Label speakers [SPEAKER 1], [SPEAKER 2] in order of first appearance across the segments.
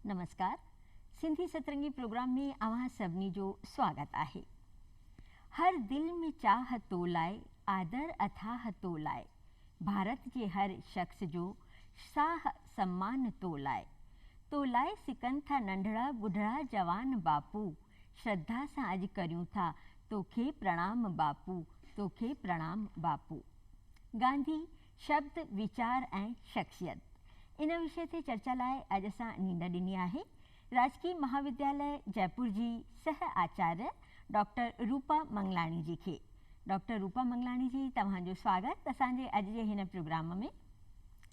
[SPEAKER 1] نمسڪار Sindhi Satrangi programme ۾ اوهان سڀني جو سواگت آهي هر دل ۾ چاهه تو لاء آدر اٿاهه تو لاء ڀارت جي هر شخص جو ساهه سمان تو لاء، تو لاء سڪن ٿا ننڍڙا ٻڍڙا جوان باپو، شرڌا سان اڄ ڪريون ٿا توکي پرڻام باپو، توکي پرڻام باپو. گانڌي، شبد، ويچار ۽ شخصيت ان وشي تي چرچا لاء اڄ اسان نينڊ ڏني آهي. راجڪي مهاودياليه جئپور جي سهه آچاريه ڊاڪٽر روپا منگلاڻي جي کي. ڊاڪٽر روپا منگلاڻي جي توهان جو سواگت اسان جي اڄ جي هن پروگرام ۾.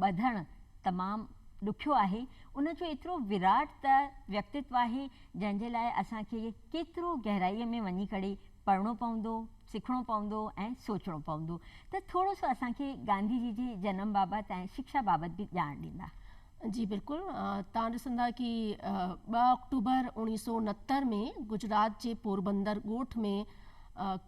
[SPEAKER 1] ٻڌڻ تمام ڏکيو آهي، ان جو ايترو وراٽ ته ويڪتتو آهي، جنهن جي لاء اسان کي ڪيترو گهرائيء ۾ وڃي ڪري پڙهڻو پوندو، سکڻو پوندو ۽ سوچڻو پوندو ته ٿورو سو اسان کي گانڌي جي جي جنم بابت ۽ شڪشا بابت به ڄاڻ ڏيندا. جي بلڪل،
[SPEAKER 2] توهان ڏسندا ڪي ٻه آڪٽوبر اوڻيهه سؤ نهتر ۾ گجرات جي پوربندر ڳوٺ ۾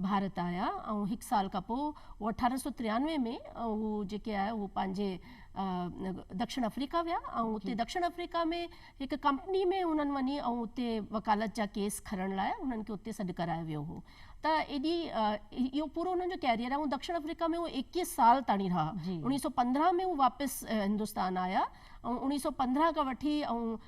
[SPEAKER 2] ڀارت آيا ۽ هڪ سال کان پوء هو اٺارهن سؤ تريانوي ۾ هو جيڪي آهي هو پنهنجي دکشڻ آفريڪا ويا ۽ اتي دکشڻ آفريڪا ۾ هڪ ڪمپني ۾ هنن وڃي ۽ اتي وڪالت جا ڪيس کڻڻ لاء هنن کي اتي سڏ ڪرايو ويو هو ته ايڏي اهو پورو هنن جو ڪيريئر آهي ۽ دکشڻ آفريڪا ۾ هو ايڪيهه سال تائين رها اڻيهه سؤ پندرهن ۾ هو واپس هندستان آيا اوهين اڻيهه سؤ پندرهن کان وٺي اوهين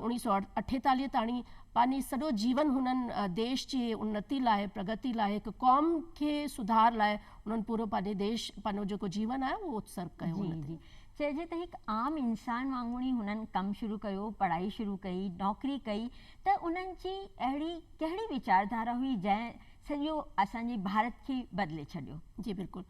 [SPEAKER 2] اڻيهه سؤ اٺيتاليهه تاڻي پنهنجي سڄو جيون هنن ديش جي انتي لاء پرگتي لاء هڪ قوم کي سڌار لاء هنن پورو پنهنجي ديش پنهنجو جيڪو جيون آهي اهو اتسرگ ڪيو جي جي چئجي ته هڪ
[SPEAKER 1] عام انسان وانگڻ ئي هنن ڪم شروع ڪيو پڙهائي شروع ڪئي نوڪري ڪئي ته انهن جي اهڙي ڪهڙي ويچاردارا هئي جنهن سڄو اسان جي ڀارت کي بدلي ڇڏيو. جي بلڪل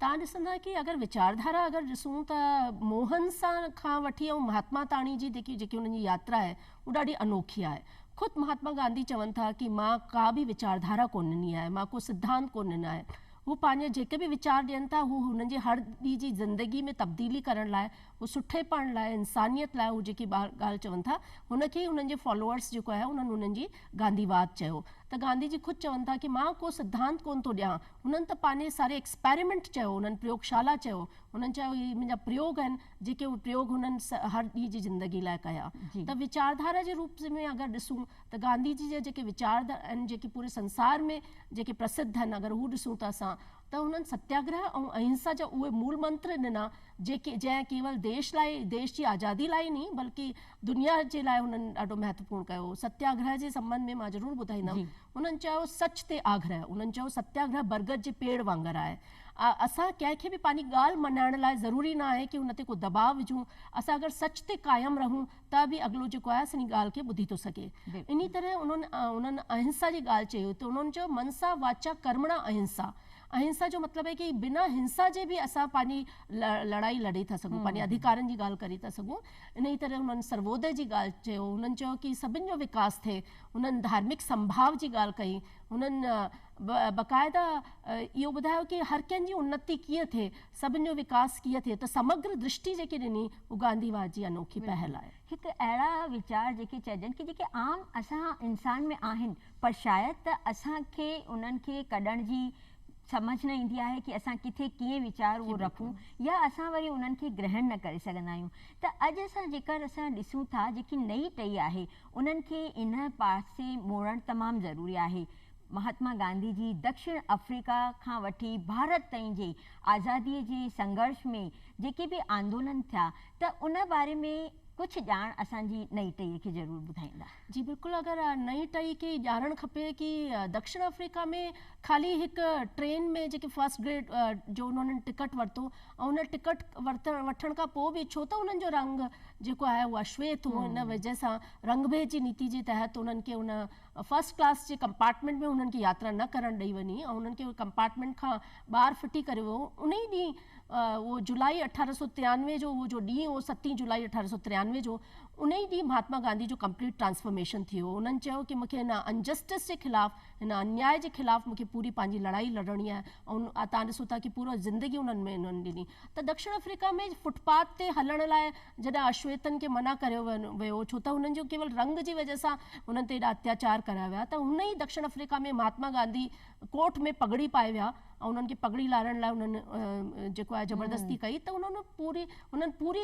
[SPEAKER 1] تان
[SPEAKER 2] ڏسندا ڪي اگر وچار ڌارا اگر ڏسون ته موهن سان کان وٺي ۽ مهاتما تاڻي جي جيڪي جيڪي انهن جي ياترا آهي اهو ڏاڍي انوکي آهي خود مهاتما گانڌي چون ٿا ڪي مان ڪا به وچار ڌارا ڪون ڏني آهي مان ڪو سڌانت ڪون ڏنا آهن هو پنهنجي جيڪي به وچار ڏين ٿا هو هنن جي هر ڏي جي زندگي ۾ تبديلي ڪرڻ لاء هو سٺي پڻ لاء انسانيت لاء هو جيڪي ڳالهه چون ٿا هن کي ئي هنن جي فالوورس جيڪو آهي انهن انهن جي گانڌي واد چيو ته گانڌي جي خود چون ٿا ڪي مان ڪو سڌانت ڪون ٿو ڏيان هنن ته پانهني ساري ايڪسپيريمينٽ چيو هنن پريوگ شالا چيو هنن چيو هي منهنجا پريوگ آهن جيڪي اهي پريوگ هنن هر ڏينهن جي زندگي لاء ڪيا ته ويچاردھارا جي روپ ۾ اگر ڏسون ته گانڌي جي جا جيڪي ويچار آهن جيڪي پوري سنسار ۾ جيڪي پرسڌ آهن اگر هو ڏسون ته اسان ته هنن ستياگرهه ۽ اهنسا جا اهي مول منتر ڏنا جيڪي جنهن ڪيول ديش لاء ديش جي آزادي لاء ئي نھي بلڪه دنيا جي لاء هنن ڏاڍو مهتوپورن ڪيو. ستياگرهه جي سنٻنڌ ۾ مان ضرور ٻڌائيندم. هنن چيو سچ تي آگرهه. هنن چيو ستياگرهه برگد جي پيڙ وانگر آهي. اسان ڪنهن کي به پنهنجي ڳالهه مڃائڻ لاء ضروري نه آهي ڪي هن تي ڪو دٻاء وجهون. اسان اگر سچ تي قائم رهون ته به اڳلو جيڪو آهي اسان جي ڳالهه کي ٻڌي ٿو سگهي. انهي طرح هنن هنن اهنسا جي ڳالهه چئي هئي ته هنن چيو منسا واچا ڪرمڻا اهنسا. اهنسا جو مطلب آهي ڪي بنا هنسا جي به اسان پنهنجي لڙائي لڙي ٿا سگهون پنهنجي اڌيڪارن جي ڳالهه ڪري ٿا سگهون. انهيء ڪري هنن سرودئي جي ڳالهه چيو. هنن چيو ڪي سڀن جو وڪاس ٿئي. هنن ڌارمڪ سنڀاء جي ڳالهه ڪئي. هنن باقاعده اهو ٻڌايو ڪي هر ڪنهن جي انتي ڪيئن ٿئي، سڀن جو وڪاس ڪيئن ٿئي ته سمگرا درشٽي جيڪي ڏني هو گانڌي واد جي انوکي پهل آهي. هڪ اهڙا
[SPEAKER 1] ويچار جيڪي چئجن ڪي جيڪي عام اسان انسان ۾ آهن پر شايد ته اسان کي انهن کي ڪڍڻ جي سمجهه نه ايندي آهي ڪي اسان ڪٿي ڪيئن ويچار اهو رکون يا اسان وري انهن کي گرهڻ نه ڪري سگهندا آهيون ته اڄ اسان جيڪر اسان ڏسون ٿا جيڪي نئين ٽهي آهي انهن کي ان پاسي موڙڻ تمام ضروري آهي مهاتما گانڌي جي دڪشڻ آفريڪا کان وٺي ڀارت تائين جي آزادي جي سنگهرش ۾ جيڪي به آندولن ٿيا ته ان باري ۾ ڪجهه ڄاڻ اسان جي نئين ٽهي کي ضرور ٻڌائيندا. جي بلڪل اگر
[SPEAKER 2] نئين ٽئي کي ئي ڄاڻڻ کپي ڪي دڪشڻ آفريڪا ۾ خالي هڪ ٽرين ۾ جيڪي فرسٽ گريڊ جو انهن ٽڪٽ ورتو ۽ ان ٽڪٽ ورتڻ وٺڻ کان پوء به ڇو ته انهن جو رنگ جيڪو آهي اهو اشويت هو ان وجه سان رنگ ڀيد جي نيتي جي تحت انهن کي ان فرسٽ ڪلاس جي ڪمپارٽمينٽ ۾ انهن کي ياترا نه ڪرڻ ڏئي وڃي ۽ انهن کي ڪمپارٽمينٽ کان ٻاهر ڦٽي ڪريو ويو انهي ڏينهن اهو جولائي اٺارهن سؤ تيانوي جو اهو جو ڏينهن هو ستين جولائي اٺارهن سؤ تيانوي جو ان ئي ڏينهن مهاتما گانڌي جو ڪمپليٽ ٽرانسفارميشن ٿي هو انهن چيو ڪي مونکي هن انجسٽس جي خلاف هن انياء جي خلاف مونکي پوري پنهنجي لڙائي لڙڻي آهي ۽ تان ڏسو ٿا ڪي پورا زندگي انهن ۾ انهن ڏني ته دڪشڻ آفريڪا ۾ فوٽ پاٿ تي هلڻ لاء جڏهن اشويتن کي منع ڪريو ويو ڇو ته انهن جو ڪيول رنگ جي وجه سان انهن تي ايڏا اتياچار ڪريا ويا ته هن ئي دڪشڻ آفريڪا ۾ مهاتما گانڌي ڪوٽ ۾ پڳڙي پائي ويا ۽ انهن کي پڳڙي لاهڻ لاء انهن جيڪو آهي زبردستي ڪئي ته انهن پوري انهن پوري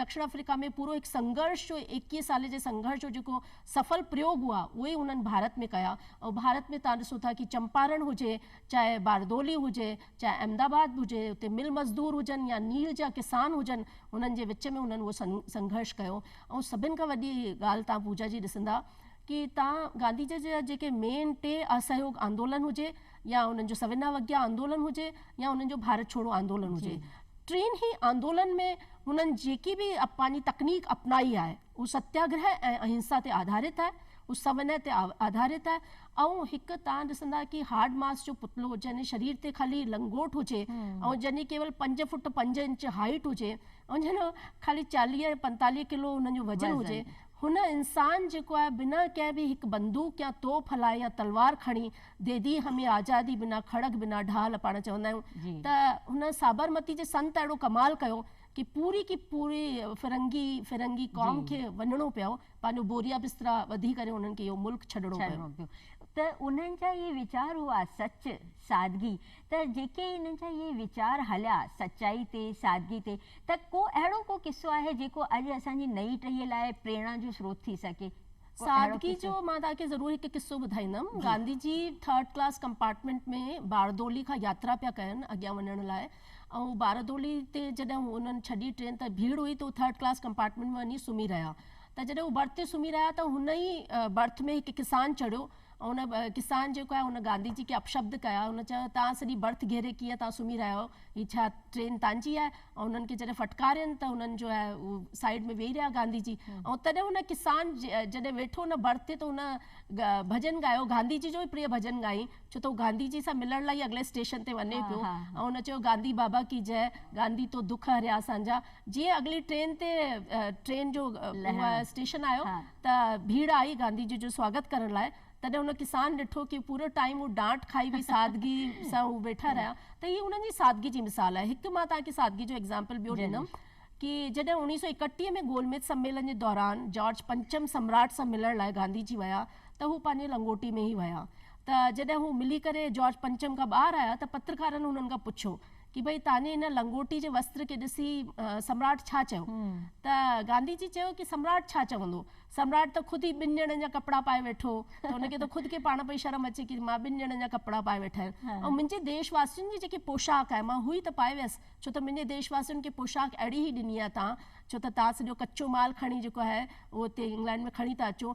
[SPEAKER 2] دکڻ آفريڪا ۾ پورو هڪ سنگهرش جو ايڪيهه سالين جي سنگهرش جو جيڪو سڦل پريوگ هئا اهي ئي انهن ڀارت ۾ ڪيا ۽ ڀارت ۾ تان ڏسو ٿا ڪي چمپارڻ هجي چاهي باردولي هجي چاهي احمد آباد به هجي اتي مل مزدور هجن يا نيل جا ڪسان هجن انهن جي وچ ۾ انهن اهو سنگهرش ڪيو ۽ سڀن کان وڏي ڳالهه تان پوجا جي ڏسندا ڪي تان گانڌي جي جا جيڪي مين ٽي اسهيوگ آندولن هجي يا انهن جو سوينا وگيا آندولن هجي يا انهن جو ڀارت ڇوڙو آندولن هجي ٽين هي آندولن ۾ هنن جيڪي به پنهنجي تڪنيڪ اپنائي آهي هو ستياگره ۽ اهنسا تي آڌارت آهي هو سونهن تي آڌارت آهي ۽ هڪ تان ڏسندا ڪي هارڊ ماس جو پتلو جنهن شرير تي خالي لنگوٽ هجي ۽ جنهن جي ڪيول پنج فوٽ پنج انچ هائيٽ هجي ۽ جنهن جو خالي چاليهه ۽ پنتاليهه ڪلو هنن جو وزن هجي هن انسان جيڪو آهي بنا ڪنهن به هڪ بندوق يا توپ هلائي يا تلوار کڻي ديدي همي آزادي بنا کڙڳ بنا ڍال پاڻ چوندا آهيون ته هن سابرمتي جي سنت اهڙو ڪمال ڪيو ڪي پوري ڪي پوري فرنگي فرنگي قوم کي وڃڻو پيو پنهنجو بوريا بسترا ٻڌي ڪري انهن کي اهو ملڪ ڇڏڻو پيو. ته انهن
[SPEAKER 1] جا اهي ويچار هئا سچ سادگي ته جيڪي هن جا اهي ويچار هليا سچائي تي، سادگي تي ته ڪو اهڙو ڪو قصو آهي جيڪو اڄ اسان جي نئين ٽهيء لاء پريڻا جو سروت ٿي سگهي. ڪو اهڙو سادگي قصو؟ جو
[SPEAKER 2] مان توهان کي ضرور هڪ قصو ٻڌائيندم. جي. Gandhi ji third class compartment ۾ باردولي کان ياترا پيا ڪن اڳيان وڃڻ لاء ۽ باردولي تي جڏهن هو انهن ڇڏي ٽرين ته ڀيڙ هئي ته هو ٿرڊ ڪلاس ڪمپارٽمينٽ ۾ وڃي سمهي رهيا ته جڏهن هو برٿ تي سمهي رهيا ته هن ئي برٿ ۾ هڪ ڪسان چڙهيو ان ڪسان جيڪو آهي ان گانڌي جي کي اپشبد ڪيا ان چيو توهان سڄي برٿ گهيري ڪيئن توهان سمهي رهيا آهيو هي ڇا ٽرين تنهنجي آهي ۽ انهن کي جڏهن ڦٽڪارين ته انهن جو آهي سائيڊ ۾ ويهي رهيا گانڌي جي ۽ تڏهن ان ڪسان جڏهن ويٺو ان برٿ تي ته ان ڀڄن ڳايو گانڌي جي جو ئي پريء ڀڄن ڳايائين ڇو ته هو گانڌي جي سان ملڻ لاء ئي اڳلي اسٽيشن تي وڃي پيو ۽ ان چيو گانڌي بابا ڪي جئه گانڌي تو دک هريا اسان جا جيئن اڳلي ٽرين تي ٽرين جو اسٽيشن آيو ته ڀيڙ آئي گانڌي جي جو سواگت ڪرڻ لاء تڏهن ان ڪسان ڏٺو ڪي پورو ٽائيم هو ڊانٽ کائي به سادگي سان هو ويٺا رهيا ته هي انهن جي سادگي جي مثال آهي هڪ مان توهان کي سادگي جو ايگزامپل ٻيو ڏيندم ڪي جڏهن اوڻيهه سؤ ايڪٽيهه ۾ گول ميز سميلن جي دوران جارج پنچم سمراٽ سان ملڻ لاء گانڌي جي ويا ته هو پنهنجي لنگوٽي ۾ هي ويا ته جڏهن هو ملي ڪري جارج پنچم کان ٻاهر آيا ته پترڪارن هنن کان پڇيو ڪي ڀئي تانجي هن لنگوٽي جي وستر کي ڏسي سمراٽ ڇا چيو؟ ته گانڌي جي چيو ڪي سمراٽ ڇا چوندو؟ سمراٽ ته خود ئي ٻن ڄڻن جا ڪپڙا پائي ويٺو ته ان کي ته خود کي پاڻ پئي شرم اچي ڪي مان ٻن ڄڻن جا ڪپڙا پائي ويٺا آهن ۽ منهنجي ديش واسين جي جيڪي پوشاڪ آهي مان هو ئي ته پائي ويس ڇو ته منهنجي ديش واسين کي پوشاڪ اهڙي ئي ڏني آهي تان ڇو ته تان سڄو ڪچو مال کڻي جيڪو آهي اهو هتي انگلينڊ ۾ کڻي ٿا اچو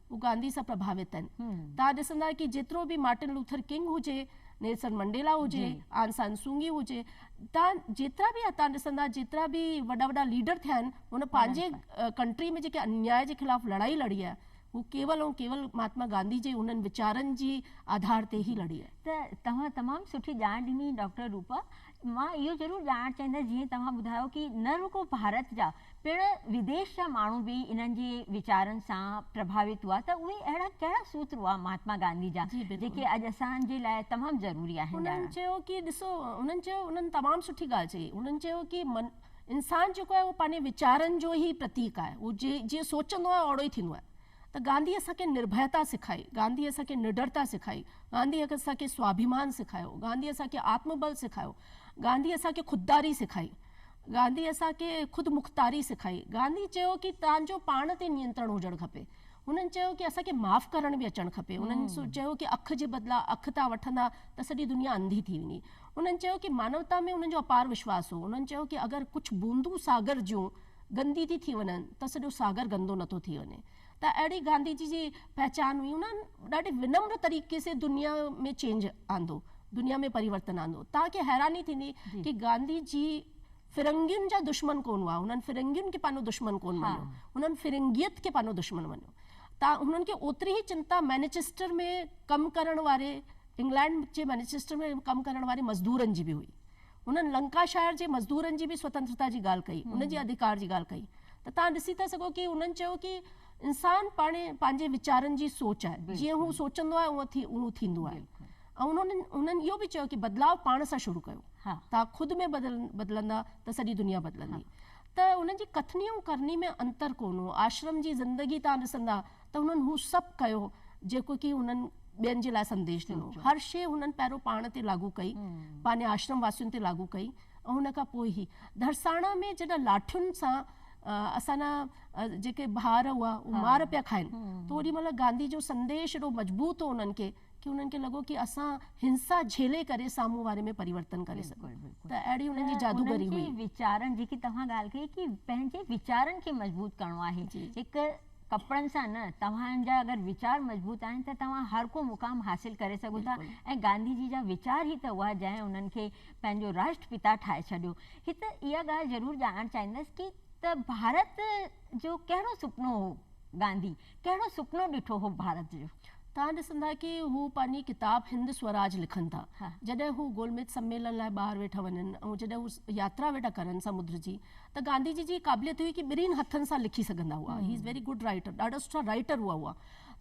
[SPEAKER 2] هو گانڌي سان پرڀاوت آهن. توهان ڏسندا ڪي جيترو به مارٽن لوٿر ڪنگ هجي، نيلسن منڊيلا هجي، آن سان سونگي هجي، توهان جيترا به توهان ڏسندا جيترا به وڏا وڏا ليڊر ٿيا آهن هن پنهنجي ڪنٽري ۾ جيڪي انياء جي خلاف لڙائي لڙي آهي هو ڪيول ۽ ڪيول مهاتما گانڌي جي انهن ويچارن جي آڌار تي ئي لڙي آهي. ته توهان تمام
[SPEAKER 1] سٺي ڄاڻ ڏني ڊاڪٽر روپا. مان اهو ضرور ڄاڻڻ چاهيندس جيئن توهان ٻڌايو ڪي نه رڳو ڀارت جا پڻ وديش جا ماڻهو به انهن جي ويچارن سان پرڀاوت هئا ته اهي اهڙا ڪهڙا سوتر هئا مهاتما گانڌي جا جيڪي اڄ اسان جي لاء تمام ضروري آهن ڄاڻڻ. هنن چيو ڪي ڏسو
[SPEAKER 2] هنن چيو هنن تمام سٺي ڳالهه چئي هنن چيو ڪي انسان جيڪو آهي اهو پنهنجي ويچارن جو ئي پرتيڪ آهي هو جيئن سوچندو آهي اوڙو ئي ٿيندو آهي ته گانڌي اسان کي نرڀيتا سکائي گانڌي اسان کي نڊرتا سکائي گانڌي اسان کي سواڀيمان سکايو گانڌي اسان کي آتم بل سکايو گانڌي اسان کي خودداري سکائي گانڌي اسان کي خود مختاري سکائي. گانڌي چيو ڪي توهان جو پاڻ تي نينترڻ هجڻ کپي. هنن چيو ڪي اسان کي معاف ڪرڻ به اچڻ کپي. هنن چيو ڪي اک جي بدلا اک تان وٺندا ته سڄي دنيا انڌي ٿي ويندي. هنن چيو ڪي مانوتا ۾ هنن جو اپار وشواس هو. هنن چيو ڪي اگر ڪجهه بوندون ساگر جون گندي ٿي ٿي وڃن ته سڄو ساگر گندو نٿو ٿي وڃي. ته اهڙي گانڌي جي جي پهچان هئي انهن ڏاڍي ونمر طريقي سي دنيا ۾ چينج آندو دنيا ۾ پريورتن آندو توهان کي حيراني ٿيندي ڪي گانڌي جي فرنگين جا دشمن ڪون هئا هنن فرنگين کي پنهنجو دشمن ڪون مڃيو هنن فرنگيت کي پنهنجو دشمن مڃيو ته هنن کي اوتري هي چنتا مينيچسٽر ۾ ڪم ڪرڻ واري انگلينڊ جي مينيچسٽر ۾ ڪم ڪرڻ واري مزدورن جي به هئي هنن لنڪاشائر جي مزدورن جي به سوتنترتا جي ڳالهه ڪئي، ان جي اڌيڪار جي ڳالهه ڪئي ته توهان ڏسي ٿا سگهو ڪي هنن چيو ڪي انسان پاڻهي پنهنجي ويچارن جي سوچ آهي، جيئن هو سوچندو آهي اونء ٿي اهو ٿيندو آهي ۽ انهن هنن اهو به چيو ڪي بدلاء پاڻ سان شروع ڪيو، توهان خود ۾ بدلندا ته سڄي دنيا بدلندي ته هنن جي ڪٿني ۽ ڪرني ۾ انتر ڪونه هو، آشرم جي زندگي توهان ڏسندا. ته هنن هو سڀ ڪيو جيڪو ڪي هنن ٻين جي لاء سنديش ڏنو. هر شيء هنن پهريون پاڻ تي لاڳو ڪئي، پنهنجي آشرم واسين تي لاڳو ڪئي ۽ ان کان پوء هي. ڌرساڻا ۾ جڏهن لاٺين سان اسان جا جيڪي ڀار هئا اهي مار پيا کائن ته اوڏي مهل گانڌي جو سنديش ايڏو مضبوط هو انهن کي ڪي انهن کي لڳو ڪي اسان هنسا جهلي ڪري سامهون واري ۾ پريورتن ڪري سگهون ته اهڙي انهن جي جادوگري هئي. انهن جي ويچارن جيڪي توهان
[SPEAKER 1] ڳالهه ڪئي ڪي پنهنجي ويچارن کي مضبوط ڪرڻو آهي هڪ ڪپڙن سان نه، توهان جا اگر ويچار مضبوط آهن ته توهان هر ڪو مقام حاصل ڪري سگهو ٿا ۽ گانڌي جي جا ويچار هي ته اها جنهن انهن کي پنهنجو راشٽر پتا ٺاهي ڇڏيو. هت اها ڳالهه ضرور ڄاڻڻ چاهيندس ڪي ته ڀارت جو ڪهڙو سپنو هو گانڌي ڪهڙو سپنو ڏٺو هو ڀارت جو. توهان ڏسندا ڪي
[SPEAKER 2] هو پنهنجي ڪتاب هند سوراج لکن ٿا جڏهن هو گولميز سميلن لاء ٻاهر ويٺا وڃن ۽ جڏهن هو ياترا ويٺا ڪرن سمنڊ جي ته گانڌي جي جي قابليت هئي ڪي ٻنهين هٿن سان لکي سگهندا هئا he is very good writer ڏاڍا سٺا رائيٽر هئا هئا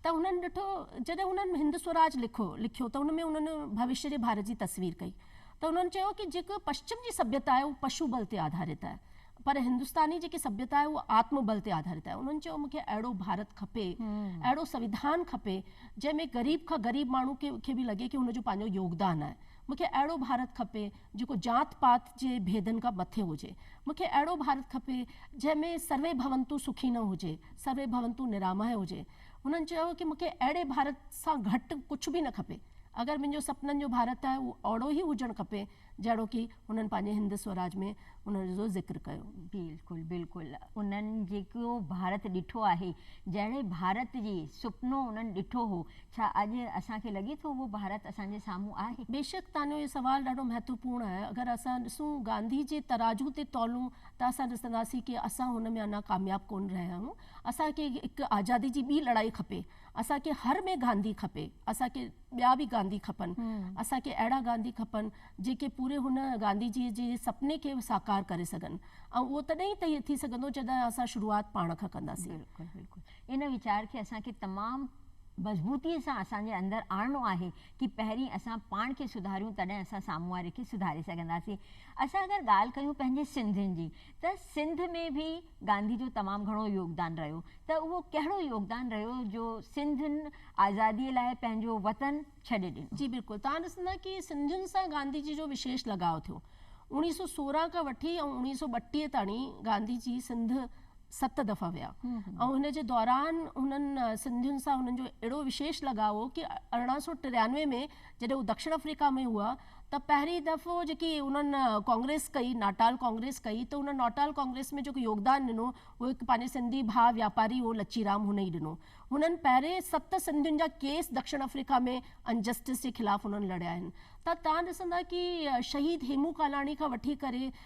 [SPEAKER 2] ته هنن ڏٺو جڏهن هنن هند سوراج لکو لکيو ته ان ۾ هنن ڀوشيه جي ڀارت جي تصوير ڪئي ته هنن چيو ڪي جيڪ پشچم جي سڀيتا آهي هو پشو بل تي آڌارت آهي پر هندستاني جيڪي سڀيتا آهي هو آتم بل تي آڌارت آهي هنن چيو مونکي اهڙو ڀارت کپي اهڙو سويڌان کپي جنهن ۾ غريب کان غريب ماڻهو کي به لڳي ڪي هن جو پنهنجو يوگدان آهي مونکي اهڙو ڀارت کپي جيڪو ذات پات جي ڀيدن کان مٿي هجي. مون کي اهڙو ڀارت کپي، جنهن ۾ سروي ڀونتو سکينو هجي، سروي ڀونتو نراماهي هجي. هنن چيو ڪي مون کي اهڙي ڀارت سان گهٽ ڪجهه به نه کپي. اگر منهنجو سپنن جو ڀارت آهي، اهو اهڙو ئي هجڻ کپي، جهڙوڪي هنن پنهنجي هند سوراج ۾ ان جو ذڪر ڪيو. بلڪل بلڪل.
[SPEAKER 1] انهن جيڪو ڀارت ڏٺو آهي، جهڙي ڀارت جي سپنو انهن ڏٺو هو، ڇا اڄ اسان کي لڳي ٿو اهو ڀارت اسان جي سامهون آهي؟ بيشڪ تنهنجو اهو سوال
[SPEAKER 2] ڏاڍو مهتوپورن آهي. اگر اسان ڏسون گانڌي جي ترازو تي تولون ته اسان ڏسنداسين ڪي اسان هن ۾ اڃا ڪامياب ڪونه رهيا آهيون. اسان کي هڪ آزادي جي ٻي لڙائي کپي. اسان کي هر ۾ گانڌي کپي. اسان کي ٻيا به گانڌي کپن. اسان کي اهڙا گانڌي کپن جيڪي پوري هن گانڌي جي جي سپني کي ساڪار ڪري سگهن ۽ اهو تڏهن ئي ٿي سگهندو جڏهن اسان شروعات پاڻ کان ڪنداسين. ان
[SPEAKER 1] ويچار کي اسان کي تمام مضبوطيء سان اسان جي اندر آڻڻو آهي ڪي پهرين اسان پاڻ کي سڌاريون تڏهن اسان سامهون واري کي سڌاري سگهنداسين. اسان اگر ڳالهه ڪيون پنهنجي سنڌين جي ته سنڌ ۾ به گانڌي جو تمام گهڻو يوگدان رهيو ته اهو ڪهڙو يوگدان رهيو جو سنڌين آزاديء لاء پنهنجو وطن ڇڏي ڏنو. جي بلڪل توهان ڏسندا
[SPEAKER 2] ڪي سنڌين سان گانڌي جي جو وشيش لڳاء ٿيو اڻويهه سؤ سورهن کان وٺي ۽ اڻويهه سؤ ٻٽيهه تاڻي گانڌي جي سنڌ ست دفعا ويا ۽ ان جي دوران هنن سنڌين سان هنن جو اهڙو وشيش لڳاء هو ڪي ارڙهن سؤ ٽيانوي ۾ جڏهن هو دڪشڻ آفريڪا ۾ هئا ته پهرين دفعو جيڪي انهن ڪانگريس ڪئي ناٽال ڪانگريس ڪئي ته انهن ناٽال ڪانگريس ۾ جيڪو يوگدان ڏنو اهو هڪ پنهنجي سنڌي ڀاء وياپاري هو لچي رام هن ئي ڏنو هنن پهرين ست سنڌين جا ڪيس دڪشڻ آفريڪا ۾ انجسٽس جي خلاف هنن لڙيا آهن ته تان ڏسندا ڪي شهيد هيمون ڪالاڻي کان وٺي ڪري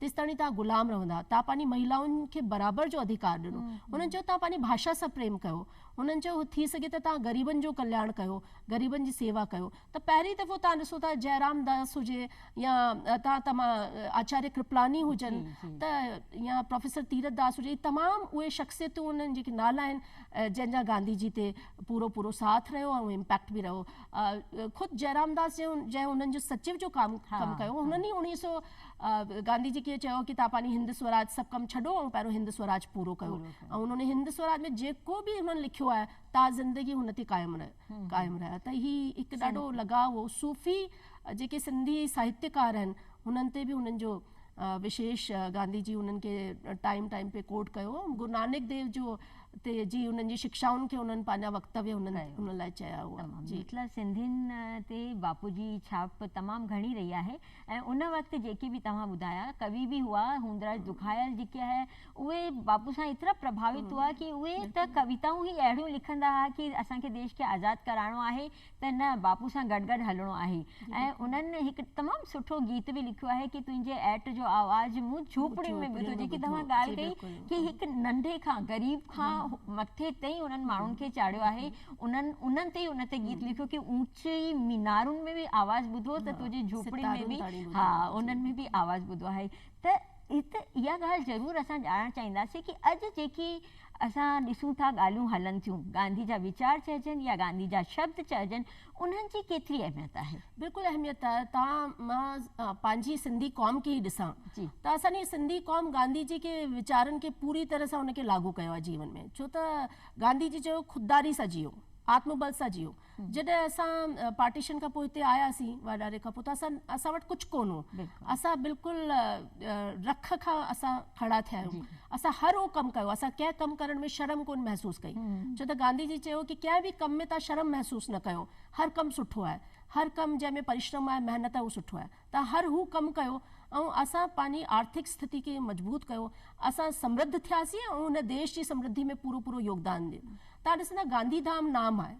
[SPEAKER 2] تيستائڻي توهان غلام رهندا. توهان پنهنجي مهيلائن کي برابر جو اڌيڪار ڏنو. هنن چيو توهان پنهنجي ڀاشا سان پريم ڪيو. هنن چيو هو ٿي سگهي ته توهان غريبن جو ڪلياڻ ڪيو، غريبن جي سيوا ڪيو. ته پهرين دفعو توهان ڏسو ٿا جئرام داس هجي يا توهان تمام آچاريه ڪرپلاني هجن ته يا پروفيسر تيرٿ داس هجي هي تمام اهي شخصيتون هن جن جيڪي نالا آهن جن جا گانڌي جي تي پورو پورو ساٿ رهيو ۽ امپيڪٽ به رهيو. خود جئرام داس جنهن هنن جو سچيو جو ڪم ڪم ڪيو هنن ئي اڻيهه سئو گانڌي جي ڪيئن چيو ڪي تاپاني هند سوراج سڀ ڪم ڇڏو ۽ پهريون هند سوراج پورو ڪيو ۽ انهن ۾ هند سوراج ۾ جيڪو به انهن لکيو آهي تا زندگي هن تي قائم قائم رهيا ته هي هڪ ڏاڍو لڳاء هو صوفي جيڪي سنڌي ساهتيڪار آهن هنن تي به هنن جو وشيش گانڌي جي هنن کي ٽائيم ٽائيم پي ڪوٽ ڪيو گرو نانڪ ديو جو تي جي هنن جي شڪشائن کي هنن پنهنجا وڪتويه هنن هن لاء چيا هئا جي مطلب سنڌين
[SPEAKER 1] تي باپو جي ڇاپ تمام گهڻي رهي آهي ۽ ان وقت جيڪي به توهان ٻڌايا ڪوي به هئا، هوندراج دکايل جيڪي آهي، اهي ٻاپو سان ايترا پرڀاوت هئا ڪي اهي ته ڪويتائون ئي اهڙيون لکندا ها ڪي اسان کي ديش کي آزاد ڪرائڻو آهي ته نه ٻاپو سان گڏ گڏ هلڻو آهي ۽ انهن هڪ تمام سٺو گيت به لکيو آهي ڪي تنهنجي ايٽ جو آواز مون جهوپڙين ۾ ٻڌو جيڪي توهان ڳالهه ڪئي ڪي هڪ ننڍي کان غريب کان مٿي تائين انهن ماڻهن کي چاڙهيو آهي انهن انهن تي ان تي گيت لکيو ڪي اونچي جي مينارن ۾ به آواز ٻڌو ته تنهنجي جهوپڙين ۾ به ها انهن ۾ به آواز ٻڌو آهي ته هت اها ڳالهه ضرور اسان ڄاڻڻ چاهينداسين ڪي اڄ جيڪي اسان ڏسون ٿا ڳالهيون هلن ٿيون گانڌي جا ويچار چئجن يا گانڌي جا شبد چئجن انهن جي ڪيتري اهميت آهي. بلڪل اهميت آهي
[SPEAKER 2] تان مان پنهنجي سنڌي قوم کي ئي ڏسان ته اسان جي سنڌي قوم گانڌي جي ڪي ويچارن کي پوري طرح سان ان کي لاڳو ڪيو آهي جيون ۾ ڇو ته گانڌي جي چيو خودداري سان جيئو آتم بل سان جيئو جڏهن اسان پارٽيشن کان پوء هتي آياسين واڍاري کان پوء ته اسان اسان وٽ ڪجهه ڪونه هو اسان بلڪل رک کان اسان کڙا ٿيا آهيون اسان هر اهو ڪم ڪيو اسان ڪنهن ڪم ڪرڻ ۾ شرم ڪونه محسوس ڪئي ڇو ته گانڌي جي چيو ڪي ڪنهن به ڪم ۾ تهان شرم محسوس نه ڪيو هر ڪم سٺو آهي هر ڪم جنهن ۾ پريشرم آهي محنت آهي اهو سٺو آهي ته هر هو ڪم ڪيو ۽ اسان پنهنجي آرٿڪ استٿتي کي مضبوط ڪيو، اسان سمرڌ ٿياسين ۽ هن ديش جي سمرڌي ۾ پورو پورو يوگدان ڏنو. توهان ڏسندا گانڌي ڌام نام آهي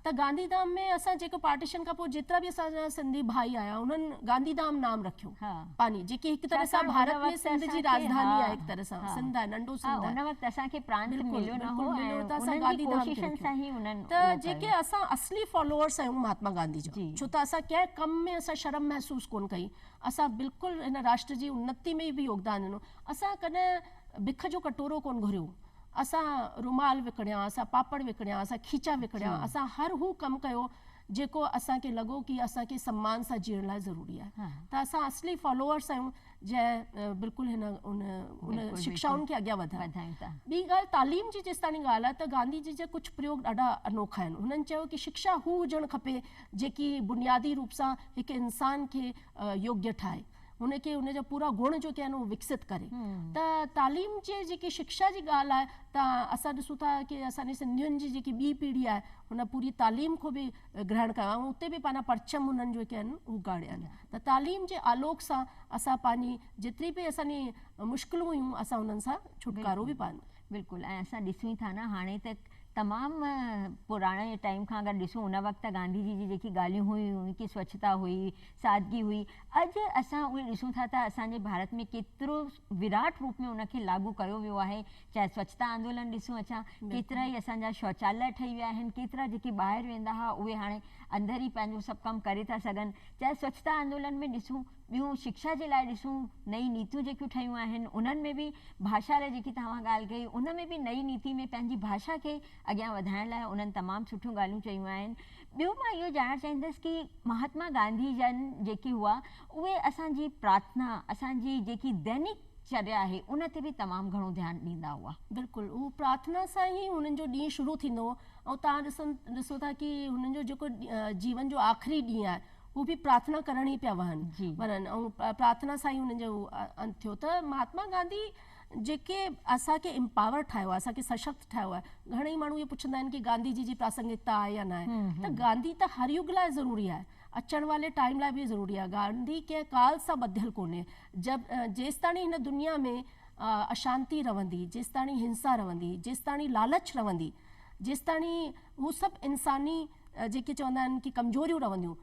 [SPEAKER 2] ته گانڌي ڌام ۾ اسان جيڪو پارٽيشن کان پوء جيترا به اسان جا سنڌي ڀائي آيا انهن گانڌي ڌام نام رکيو پنهنجي جيڪي هڪ طرح سان ڀارت ۾ سنڌ جي راجڌاني آهي هڪ طرح سان سنڌ آهي ننڍو سنڌ آهي.
[SPEAKER 1] بلڪل بلڪل مليو ته اسان گانڌي ڌام
[SPEAKER 2] کي رکيو ته جيڪي اسان اصلي فالوورس آهيون مهاتما گانڌي جا. ڇو ته اسان ڪنهن ڪم ۾ اسان شرم محسوس ڪونه ڪئي. اسان بلڪل هن راشٽر جي انتي ۾ به يوگدان ڏنو. اسان ڪڏهن بک جو ڪٽورو ڪونه گهريو. اسان رومال وڪڻيا، اسان پاپڙ وڪڻيا، اسان کيچا وڪڻيا، اسان هر هو ڪم ڪيو جيڪو اسان کي لڳو ڪي اسان کي سمان سان جيئڻ لاء ضروري آهي ته اسان اصلي فالوورس آهيون. جنهن بلڪل هن ان ان شڪشائن کي اڳيان وڌايو ٻي ڳالهه تعليم جي جيستاڻي ڳالهه آهي ته گانڌي جي جا ڪجهه پريوگ ڏاڍا انوکا آهن هنن چيو ڪي شڪشا هو هجڻ کپي جيڪي بنيادي روپ سان هڪ انسان کي يوگيه ٺاهي هن کي هن جا پورا گڻ جو ڪي آهن اهو وڪسيت ڪري ته تعليم جي جيڪي شڪشا جي ڳالهه آهي ته اسان ڏسون ٿا ڪي اسان جي سنڌين جي جيڪي ٻي پيڙهي آهي هن پوري تعليم کي به گرهڻ ڪيو آهي اتي به پنهنجا پرچم هنن جو ڪي آهن اهو ڳاڙيا آهن ته تعليم جي آلوڪ سان اسان پنهنجي جيتري به اسان جي مشڪلون هيون اسان انهن سان ڇوٽڪارو به پا. بلڪل ۽ اسان
[SPEAKER 1] ڏسون ٿا نه هاڻي ته تمام پراڻي ٽائيم کان اگر ڏسون ان وقت گانڌي جي جي جيڪي ڳالهيون هيون ڪي سوڇتا هئي سادگي هئي اڄ اسان اهي ڏسون ٿا ته اسان جي ڀارت ۾ ڪيترو وراٽ روپ ۾ ان کي لاڳو ڪيو ويو آهي چاهي سوچتا آندولن ڏسون اچان ڪيترا ئي اسان جا شوچاليه ٺهي ويا آهن ڪيترا جيڪي ٻاهر ويندا ها اهي هاڻي اندر ئي پنهنجو سڀ ڪم ڪري ٿا سگهن چاهي سوچتا آندولن ۾ ڏسون ٻيون شڪشا جي لاء ڏسون نئي نيتيون جيڪيون ٺهيون آهن انهن ۾ به ڀاشا لاء جيڪي توهان ڳالهه ڪئي ان ۾ به نئي نيتي ۾ پنهنجي ڀاشا کي اڳيان وڌائڻ لاء انهن تمام سٺيون ڳالهيون چيون آهن ٻيو مان اهو ڄاڻڻ چاهيندس ڪي مهاتما گانڌي جن جيڪي هئا اهي اسان جي پرارٿنا اسان جي جيڪي دينڪ چريا آهي ان تي به تمام گهڻو ڌيان ڏيندا هئا. بلڪل اهو پرارٿنا
[SPEAKER 2] سان ئي هنن جو ڏينهن شروع ٿيندو هو ۽ توهان ڏسن ڏسو ٿا ڪي هنن جو جيڪو جيون جو آخري ڏينهن آهي اهو به پرارٿنا ڪرڻ ئي پيا وهن وڃن ۽ پرارٿنا سان ئي هنن جو انت ٿيو ته مهاتما گانڌي جيڪي اسان کي امپاور ٺاهيو آهي، اسان کي سشڪت ٺاهيو آهي. گهڻئي ماڻهو اهو پڇندا آهن ڪي گانڌي جي جي پراسنگڪتا آهي يا ناهي. ته گانڌي ته هر يگ لاء ضروري آهي. اچڻ والي ٽائيم لاء به ضروري آهي. گانڌي ڪنهن ڪال سان ٻڌل ڪونهي. جب جيستاڻي هن دنيا ۾ اشانتي رهندي، جيستاڻي هنسا رهندي، جيستاڻي لالچ رهندي، جيستاڻي هو سڀ انساني جيڪي چوندا آهن ڪي ڪمزوريون رهنديون،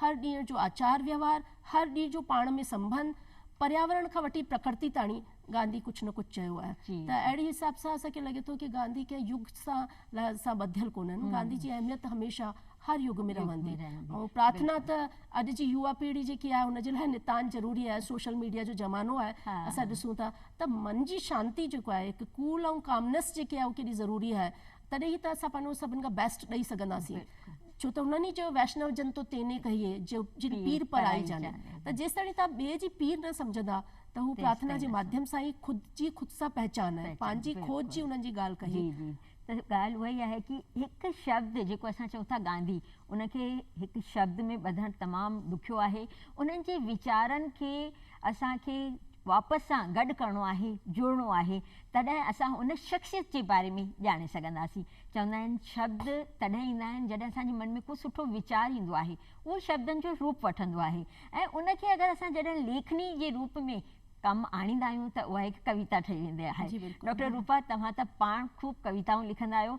[SPEAKER 2] هر ڏينهن جو آچار وهنوار، هر ڏينهن جو پاڻ ۾ سنبنڌ، پرياورڻ کان وٺي پرڪرتي تاڻي گانڌي ڪجهه نه ڪجهه چيو آهي ته اهڙي حساب سان اسان کي لڳي ٿو ته گانڌي ڪنهن يگ سان سان ٻڌل ڪونهن، گانڌي جي اهميت هميشه هر يگ ۾ رهندي ۽ پرارٿنا ته اڄ جي يوا پيڙهي جيڪي آهي ان جي لاء نتان ضروري آهي، سوشل ميڊيا جو زمانو آهي اسان ڏسون ٿا ته من جي شانتي جيڪو آهي هڪ ڪول ۽ ڪامنس جيڪي آهي اهو ڪيڏي ضروري آهي. تڏهن ئي ته اسان پنهنجو سڀن کان بيسٽ ڏئي سگهنداسين. ڇو ته هنن ئي چيو ويشنو جن تو تيني ڪهيي جو جن پير پرائي جاني. ته جيستاڻي توهان ٻئي جي پير نه سمجهندا ته هو پرارٿنا جي ماڌيم سان ئي خود جي خود سان پهچان ۽ پنهنجي کوج جي انهن جي ڳالهه ڪهي. جي جي ته ڳالهه اها ئي
[SPEAKER 1] آهي ڪي هڪ شبد جيڪو اسان چئون ٿا گانڌي ان کي هڪ شبد ۾ ٻڌڻ تمام ڏکيو آهي انهن جي ويچارن کي اسان کي واپس سان گڏ ڪرڻو آهي، جڙڻو آهي، تڏهن اسان ان شخصيت جي باري ۾ ڄاڻي سگهنداسين. چوندا آهن شبد تڏهن ايندا آهن جڏهن اسان جي من ۾ ڪو سٺو ويچار ايندو آهي، اهو شبدن جو روپ وٺندو آهي ۽ ان کي اگر اسان جڏهن ليکڻي جي روپ ۾ ڪم آڻيندا آهيون ته اها هڪ ڪويتا ٺهي ويندي آهي. ڊاڪٽر روپا توهان ته پاڻ خوب ڪويتائون لکندا آهيو.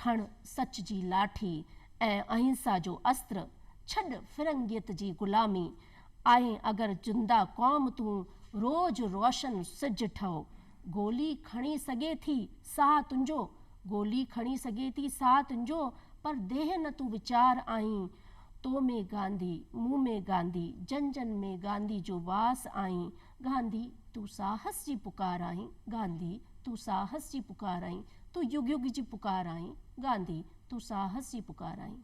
[SPEAKER 2] کڻ سچ جي لاٺي ۽ اهنسا جو استر، ڇڏ فرنگيت جي غلامي، آهين اگر زنده قوم تون روز روشن سج ٺهه، گولي کڻي سگهي ٿي ساهه تنهنجو، گولي کڻي سگهي ٿي ساهه تنهنجو پر ديهه نه تون ويچار آهين، تو ۾ گانڌي، مون ۾ گانڌي، جن جن ۾ گانڌي جو واس آهين، گانڌي تون ساهس جي پڪار آهين، گانڌي تون ساهس جي پڪار آهين، تون يگ يگ جي پڪار آهين، گانڌي تون ساهس جي پڪار آهين.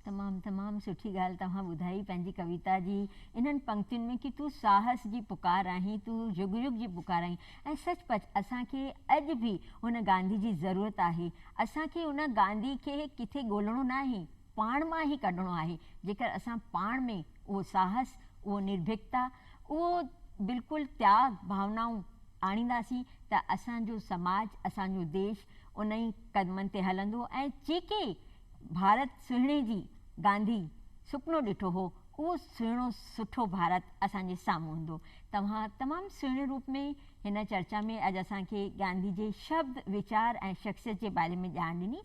[SPEAKER 2] تمام تمام
[SPEAKER 1] سٺي ڳالهه توهان ٻڌائي پنهنجي ڪويتا جي انهن پنڪتين ۾ ڪي تون ساهس جي پڪار آهين، تون يگ يگ جي پڪار آهين ۽ سچ پچ اسان کي اڄ به هن گانڌي جي ضرورت آهي، اسان کي ان گانڌي کي ڪٿي ڳولڻو ناهي، پاڻ مان ئي ڪڍڻو آهي، جيڪر اسان پاڻ ۾ اهو ساهس، اهو نرڀيڪتا، اهو بلڪل تياڳ ڀاونائون آڻينداسين ته اسان جو سماج، اسان جو ديش ان ئي قدمن تي هلندو ۽ جيڪي ڀارت سهڻي جي گانڌي سپنو ڏٺو هو، اهو سهڻو سٺو ڀارت اسان جي سامهون هوندو. توهان تمام سهڻي روپ ۾ هن چرچا ۾ اڄ اسان کي گانڌي جي شبد، ويچار ۽ شخصيت جي باري ۾ ڄاڻ ڏني.